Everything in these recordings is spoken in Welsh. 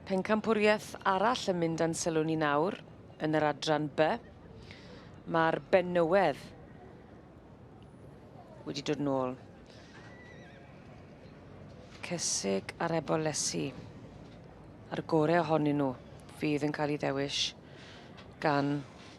Pencampwriaeth arall yn mynd a'n sylw ni nawr yn yr adran B. Mae'r benywedd wedi dod yn ôl. Cysig ar Ebol Lesi. A'r gorau ohonyn nhw fydd yn cael ei ddewis gan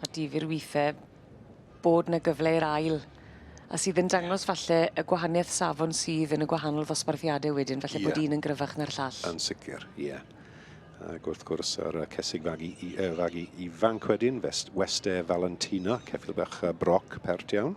A difyr withe bod 'na gyfle i'r ail a sydd yn dangos falle y gwahanieth safon sydd yn y gwahanol ddosbarthiade wedyn falle bod un yn gryfach na'r llall. Yn sicr, ie. Yeah. Ac wrth gwrs yr cesig fagu, uh, fagu ifanc wedyn, Weste Valentina, ceffil bach broc pert iawn.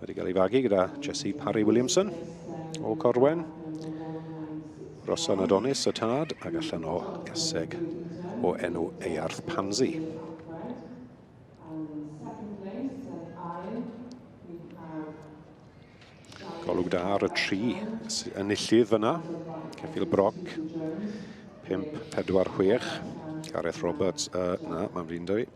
Wedi cael ei fagu gyda Jesse Parry Williamson o Corwen. Rosan Adonis y tad ac allan o gaseg o enw Earth Pansy. Golwg da ar y tri enillydd fyna. Ceffil Broc, 5-4-6. Gareth Roberts, uh, na, mae'n fi'n dweud.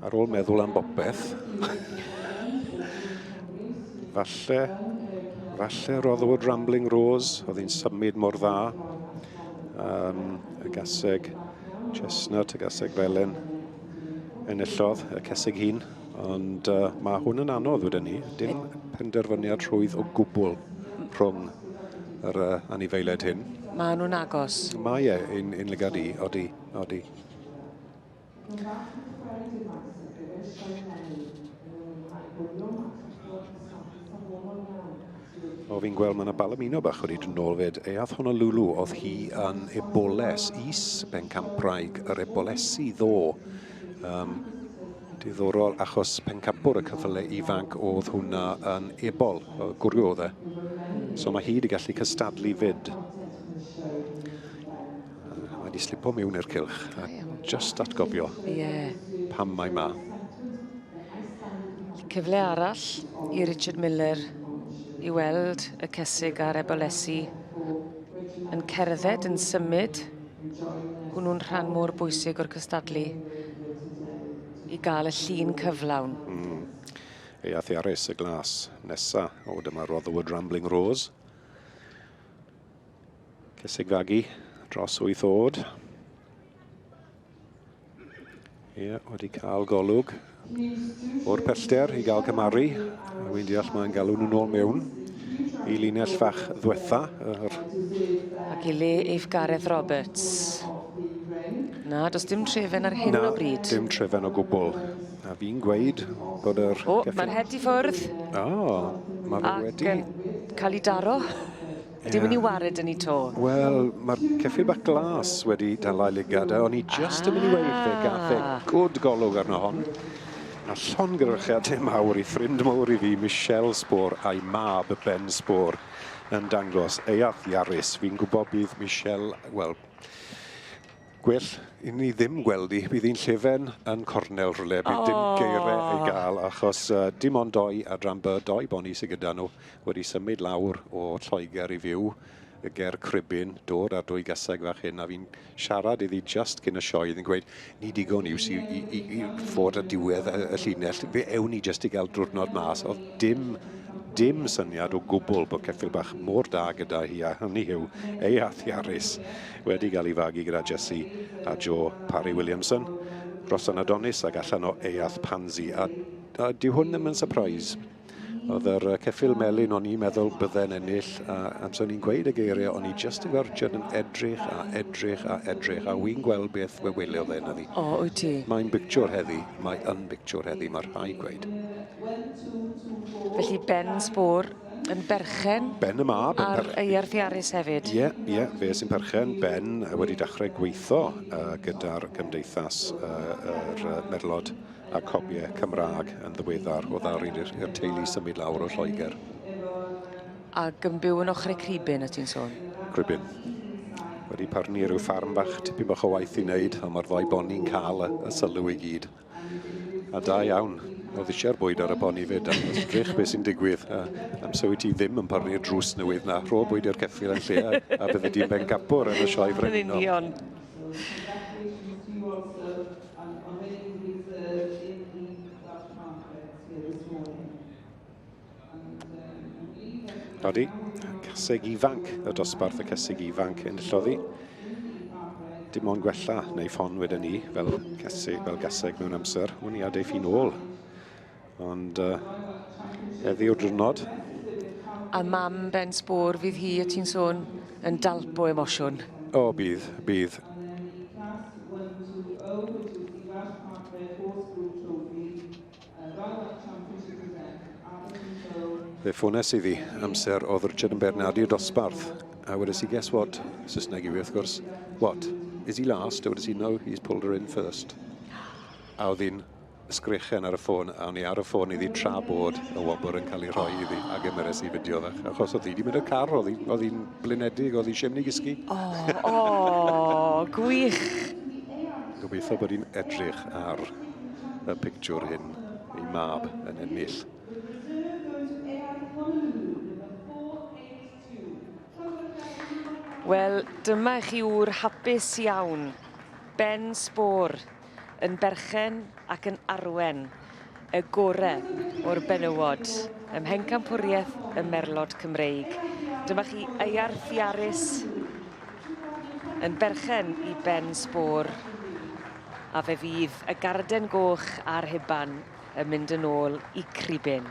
Ar ôl meddwl am bopeth. Falle, falle roddwyd Rambling Rose, oedd hi'n symud mor dda. Um, y gaseg chestnut, y gaseg felen, enillodd y ceseg hun. Ond uh, mae hwn yn anodd wedyn ni. Dim penderfyniad rhwydd o gwbl rhwng yr uh, anifeiliaid hyn. Mae nhw'n agos. Mae e, yn, yn lygad i, odi, odi. Mae bach yn chwarae difaes ar gyfer y sioe eleni, yn ei mwynhau gwylio match a clywed cystadlu safonol iawn sydd wrth O, fi'n gweld mae yna Balamino bach wedi dod nôl fyd. E ath Honolulu, oedd hi yn Eboles, is bencampwraig yr Ebolesi ddo. Um, diddorol, achos pencampwr y cyfle ifanc oedd hwnna yn ebol, gwrw oedd e. So mae hi wedi gallu cystadlu fyd. Mae di slipo miwn i'r cylch. A just atgofio. Ie. Yeah. Pam mae ma. Cyfle arall i Richard Miller i weld y cesig ar Ebolesi yn cerdded, yn symud. Hwnnw'n rhan mor bwysig o'r cystadlu i gael y llun cyflawn. Mm. Ei athiarus y glas nesa o dyma Rotherwood Rambling Rose. Cysigfagu dros wyth oed. Ie, yeah, wedi cael golwg o'r pellter i gael cymaru. A wy'n deall mae'n galw nhw'n ôl mewn i linell fach ddwetha. Yr... Ac i le eif Gareth Roberts. Na, does dim trefen ar hyn Na, o bryd. Na, dim trefen o gwbl. A fi'n gweud bod yr... O, mae'r het i ffwrdd. O, mae fe wedi... Ac cael ei daro. Ie. Dyw 'i 'di wared 'da ni 'to. Wel, ma'r ceffyl bach glas wedi dal a'i lygad a o'n i jyst... Ah! ...yn myn' i weud fe gath e good golwg arno hon, a llongyfarchiade mawr i ffrind mowr i fi, Michelle Spore, a'i mab, Ben Spore, yn dangos ei arth i Arys. Fi'n gwbo bydd Michelle, wel, Gwell i ni ddim gweld hi, bydd hi'n llefen yn cornel rhywle, bydd dim geire ei gael achos dim ond doi adran by, doi boni sydd gyda nhw, wedi symud lawr o Lloegr i fyw ger Cribyn, dod â'r dwy gaseg fach hyn a fi'n siarad iddi just cyn y sioe, oedd hi'n gweud ni digon iws i, i, i, i fod ar diwedd y, y llinell, fe ewn ni just i gael drwrnod mas, oedd dim dim syniad o gwbl bod ceffyl bach mor da gyda hi a hynny yw ei athiarus wedi cael ei fagu gyda Jesse a Jo Parry Williamson, Rhossan Adonis ac allan o Eath Pansy, a, a dyw hwn ddim yn surprise. Oedd yr ceffil melyn o'n i'n meddwl bydde'n ennill, a amser o'n i'n gweud y geiriau, o'n i just yn gorchod yn edrych a edrych a edrych, a wy'n gweld beth fe wylio fe na fi. O, wyt ti? Mae'n bictiwr heddi, mae yn bictiwr heddi, mae rhai gweud. Felly Ben Sbwr yn berchen... Ben y mab. Yn per... Ar ei arthiarus hefyd. Ie, yeah, ie, yeah, fe sy'n perchen. Ben wedi dechrau gweithio uh, gyda'r gymdeithas uh, yr uh, merlod a cobiau Cymraeg yn ddiweddar o ddar i'r teulu symud lawr o Lloegr. Ac yn byw yn ochr y cribyn, y ti'n sôn? Cribyn. Wedi parni rhyw ffarm bach, tipyn bach o waith i wneud, ond mae'r ddau boni'n cael y, y sylw i gyd. A da iawn. Oedd eisiau'r bwyd ar y boni fyd am ddrych beth sy'n digwydd. A amser wyt ti ddim yn parnu'r drws newydd na. Rho bwyd i'r ceffyl yn lle a, a bydde di'n ben gapwr yn y sioe frenhinol. Yn union. Codi, caseg ifanc y dosbarth, y caseg ifanc yn lloddi. Dim ond gwella neu ffon wedyn ni fel caseg, fel gaseg mewn amser. Wn i adeiff i'n ôl. Ond uh, heddi o'r drwnod. A mam Ben Sbor, fydd hi y ti'n sôn yn dalp o emosiwn? O, bydd, bydd. Fe ffones iddi amser oedd Richard yn Bernardi y dosbarth, a wedes i, guess what? Saesneg yw e, wrth gwrs. What? Is he last? A wedes i, no, he's pulled her in first. A oedd hi'n sgrechen ar y ffôn, a o'n i ar y ffôn iddi tra bod y wobr yn cael ei rhoi iddi, a gymeres i fideo fe. Achos oedd hi wedi mynd y car, oedd hi'n blinedig, oedd hi eisiau mynd i gysgu. O, oh, oh, gwych! Gobeithio bod hi'n edrych ar y pictiwr hyn ei mab yn ennill. Wel, dyma chi wr hapus iawn. Ben sbor yn berchen ac yn arwen y gore o'r benywod ym Mhencampwriaeth y Merlod Cymreig. Dyma chi Iarth Iaris yn berchen i Ben sbor A fe fydd y garden goch a'r huban yn mynd yn ôl i Cribyn.